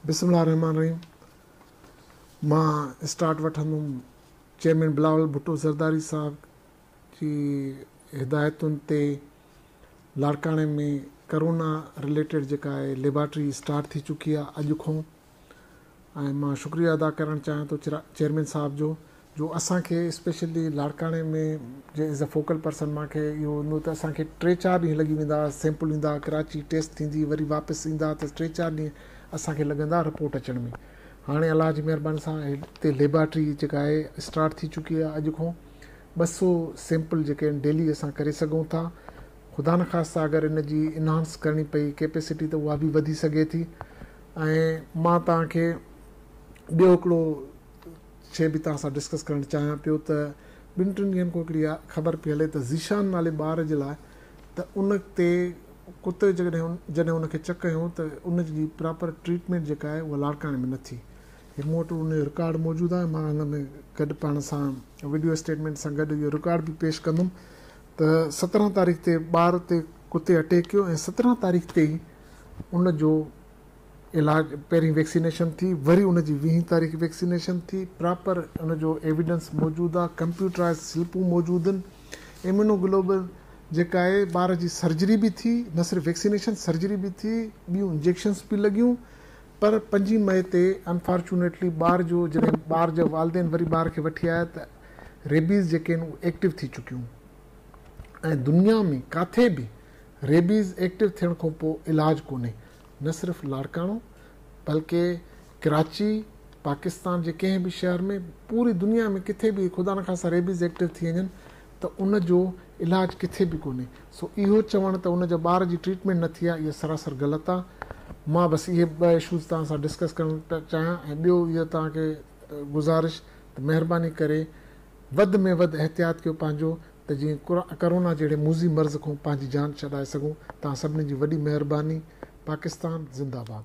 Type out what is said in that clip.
بسم الله الرحمٰن الرحيم مان اسٽارٽ وٺندم چيئرمين بلاول ڀٽو زرداري صاحب جي هدايتن تي لاڙڪاڻي ۾ ڪرونا رليٽيڊ جيڪا ليبارٽري اسٽارٽ ٿي چڪي آهي اڄ کون ۽ مان شڪريو ادا ڪرڻ چاهيان ٿو چيئرمين صاحب جو جو اسان کي اسپيشلي لاڙڪاڻي ۾ جي ايز اي فوڪل پرسن مان کي اهو هوندو ته اسان کي ٽي چار ڏينهن لڳي ويندا هئا سيمپل ايندا ڪراچي ٽيسٽ ٿيندي وري واپس ايندا ته ٽي چار ڏينهن اسان کي لڳندا رپورٽ اچڻ ۾ هاڻي الله جي مهرباني سان هتي ليبارٽري جيڪا آهي اسٽارٽ ٿي چڪي آهي اڄ کان ٻه سو سيمپل جيڪي آهن ڊيلي اسان ڪري سگهون ٿا خدا نخواسته اگر ان جي انهانس ڪرڻي پئي ڪيپيسٽي ته اها به وڌي سگهي ٿي ۽ مان توهان کي ٻيو هڪڙو شيء به توهان سان ڊسڪس ڪرڻ چاهيان پيو ته ٻن ٽن ڏينهن کان هڪڙي اها خبر پئي هلي ته ذيشان نالي ٻار جي لاء ته ان تي ڪتي جڏهن جڏهن ان کي چڪ هنيو ته ان جي پراپر ٽريٽمينٽ جيڪا آهي اها لاڙڪاڻي ۾ نه ٿي هي مون وٽ ان جو رڪارڊ موجود آهي مان هن ۾ گڏ پاڻ سان ويڊيو اسٽيٽمينٽ سان گڏ اهو رڪارڊ به پيش ڪندم ته سترهن تاريخ تي ٻار تي ڪتي اٽيڪ ڪيو ۽ سترهن تاريخ تي ئي ان جو علاج پهرين ويڪسينيشن ٿي وري ان جي ويهين تاريخ ويڪسينيشن ٿي پراپر ان جو ايويڊنس موجود آ ڪمپيوٽرائز سلپون موجود ان اميونو گلوبل جيڪا آهي ٻار جي سرجري به ٿي نه صرف ويڪسينيشن سرجري به ٿي ٻيون انجيڪشنس به لڳيون پر پنجين مئي تي انفارچونيٽلي ٻار جو جڏهن ٻار جا والدين وري ٻار کي وٺي آيا ته ريبيز جيڪي آهن اهو ايڪٽو ٿي چڪيون ۽ دنيا ۾ ڪاٿي به ريبيز ايڪٽو ٿيڻ کان پوء علاج ڪونهي، نه صرف لاڙڪاڻو بلڪه ڪراچي، پاڪستان جي ڪنهن به شهر ۾، پوري دنيا ۾ ڪٿي به خدا نخواسته ريبيز ايڪٽو ٿي وڃن ته ان جو علاج ڪٿي به ڪونهي، سو اهو چوڻ ته ان جا ٻار جي ٽريٽمينٽ نه ٿي آهي اهو سراسر غلط آهي. مان بس اهي ٻه اشوز توهان سان ڊسڪس ڪرڻ چاهيان ۽ ٻيو اهو توهان کي گذارش ته مهرباني ڪري وڌ ۾ وڌ احتياط ڪيو پنهنجو ته جيئن ڪرونا جهڙي موذي مرض کون پنهنجي جان ڇڏائي سگهون توهان سڀني جي وڏي مهرباني پاڪستان زنده باد.